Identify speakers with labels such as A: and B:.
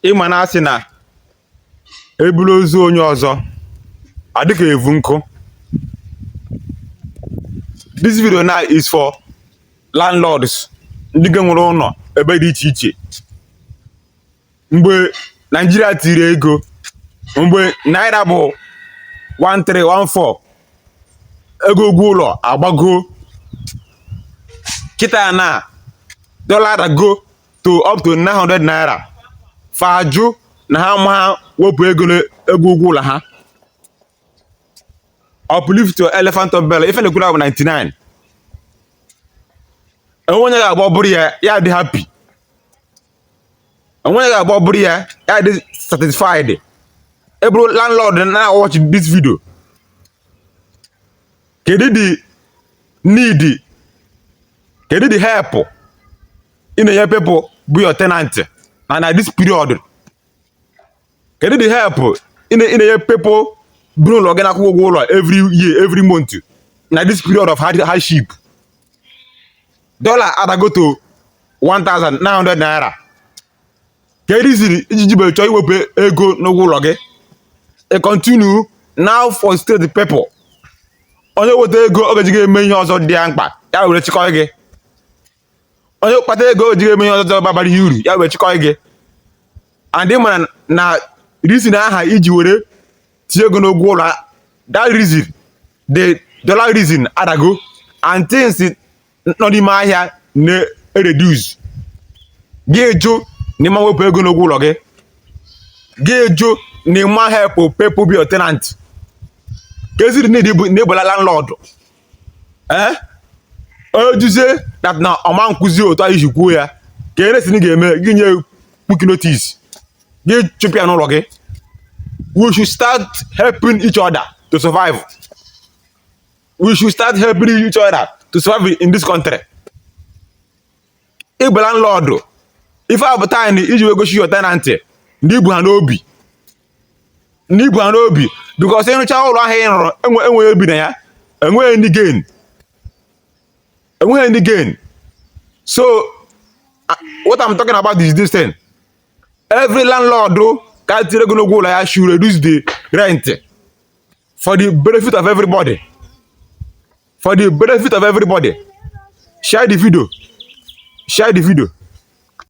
A: ịma na asị na eburu ozu onye ọzọ adịka evu nkụ this video now is for landlords ndị ka nwere ụlọ ebe dị iche iche mgbe naijiria tiri ego mgbe naira bụ 1314 ego ụgwọ ụlọ agbago kịta na dollar adago to up to 900 naira fa ajụ na ha ama wepụ ego ego ụgwọ ụlọ ha uplift to elephant of bell ife na-ekwuru bụ 99 enwe onye ga-agba ọbụrụ ya ya dị happy enwe onye ga-agba ọbụrụ ya ya dị satisfied ịbụrụ landlord na watch this video kedu the need kedu the help ị na-enye people bụ your tenant na na this period kedu the help ị na-enye people bi n'ụlọ gị na-akwụ ụgwọ ụlọ every year every month na this period of hardship dollar adago to 1900 naira kedu reason iji jibere chọọ iwepụ ego n'ụgwọ ụlọ gị ị continue na-afrustrate people onye weta ego ọ ga-eji eme ihe ọzọ dị ya mkpa ya were chịkọrọ gị onye kpata ego o ji eme ihe ọzọ babara ya uru ya wee chịkọ gị and ịmara na reason ahụ iji were tinye ego n'ụgwọ ụlọ that reason the dollar reason adago and things nọ n'ime ahịa na-ereduce gị ajụ na ịma wepụ ego n'ụgwọ ụlọ gị gị ajụ na ịma help people bụ your tenant keezi need na ịbụ landlord ee eh? ọ jụzie that na ọ ma akwụzi otu anyị ji kwuo ya kee reason ga-eme gị nye quit notice gị chụpụ ya n'ụlọ gị we should start helping each other to survive we should start helping each other to survive in this country ịbụ landlord ife a bụ time iji wee gosi your tenant na ibu ha n'obi na ibu ha n'obi because ịrụcha ụlọ ahụ ị rụrụ enweghị onye bi na ya enweghị ndị gain enweghị ndị gain so what I'm talking about is this thing every landlord ka tiri ego n'ụgwọ ụlọ ya should reduce the rent for the benefit of everybody for the benefit of everybody share the video share the video